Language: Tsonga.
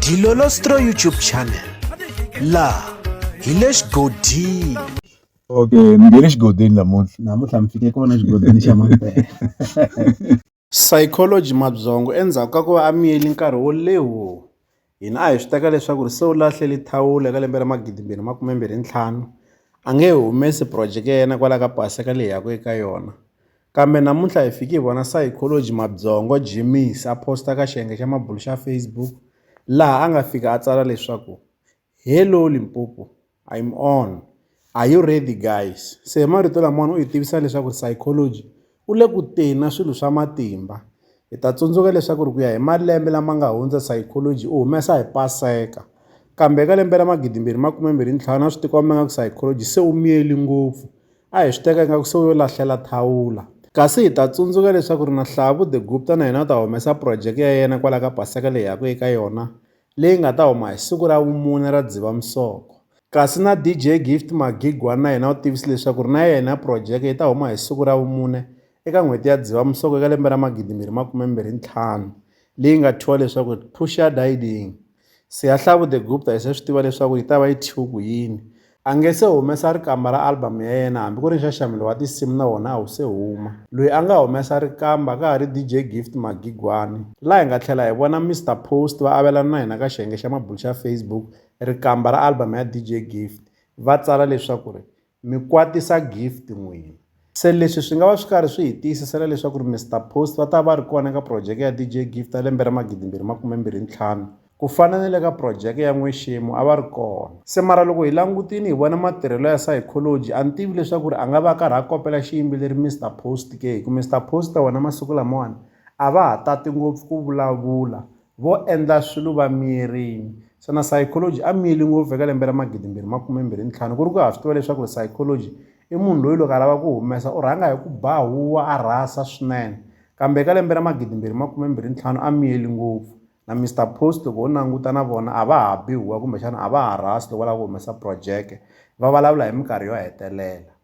Dilolostro YouTube channel laha hi le xigodini okay ni nge le xigodini namuntlha namuntlha mi fike kona xigodini xa mampela psychology mabyongo endzhaku ka ku va a miyeli nkarhi wo lewo hina a hi swi teka leswaku ri se u lahleli thawula eka lembe ra magidimbirhi makumembirhi ntlhanu a nge humesi projeke ya yena kwala ka pasi ka leyi yaku eka yona Kambe namuntlha hi fike hi vona sayikholoji Mabyongo Jimmys a phosta ka xiyenge xa mabulu xa Facebook laha a nga fika a tsala leswaku, Hello Limpopo, I'm on, are you ready guys? Se hi marito lamawani u hi tivisa leswaku ri sayikholoji u le ku teni na swilo swa matimba. Hi ta tsundzuka leswaku ri ku ya hi malembe lama nga hundza sayikholoji u humesa hi paseka, kambe eka lembe ra magidimbirhi makume mbirhi ntlhanu a swi tikomba nga ku sayikholoji se u miyeli ngopfu. A hi swi teka ingaku se u yo lahlela thawula. Kasi hi ta tsundzuka leswaku ri na Hlavu de Gupta na yena u ta humesa phurojeke ya yena kwala ka Paseka leyi hi yaka eka yona, leyi nga ta huma hi siku ra vumune ra Dzivamisoko. Kasi na DJ Gift Magigwan na yena u tivise leswaku ri na yena phurojeke yi ta huma hi siku ra vumune eka n'hweti ya Dzivamisoko eka lembe ra magidimbirhi makume mbirhi ntlhanu, leyi nga thyiwa leswaku ri Pushadyding. Siyahlavu The Gupta hi se swi tiva leswaku yi ta va yi thyiwe ku yini. A nge se humesa rikamba ra album ya yena hambi ku ri nxaxamelo wa tinsimu na wona a wu se huma. Loyi a nga humesa rikamba ka ha ri DJ Gift Magigwani. Laha hi nga tlhela hi vona Mister Post va avelana na hina ka xiyenge xa mabulo xa Facebook rikamba ra album ya DJ Gift, va tsala leswaku ri Mi kwatisa Gift n'wina. Se leswi swi nga va swi karhi swi hi tiyisisela leswaku ri Mister Post va ta va ri kona eka phurojeke ya DJ Gift ya lembe ra magidimbirhi makumembirhi ntlhanu, ku fana ni le ka phurojeke ya N'we Xemu a va ri kona. Se mara loko hi langutini hi vona matirhelo ya Sayikholoji, a ni tivi leswaku ri a nga va a karhi a kopela xiyimbeleri Mister Post ke hi ku Mister Post wena masiku lamawani a va ha tati ngopfu ku vulavula Vo endla swilo va miyerile. Xana psychology a miyeli ngopfu eka lembe ra magidimbirhi makume mbirhi ni ntlhanu? Ku ri ku ha swi tiva leswaku ri psychology i munhu loyi loko a lava ku humesa u rhanga hi ku ba huwa a rhasa swinene. Kambe eka lembe ra magidimbirhi makume mbirhi ntlhanu a miyeli ngopfu. Na Mister Post loko ho languta na vona a va ha bi huwa kumbexana a va ha rhasi loko va lava ku humesa projeke. Va vulavula hi minkarhi yo hetelela.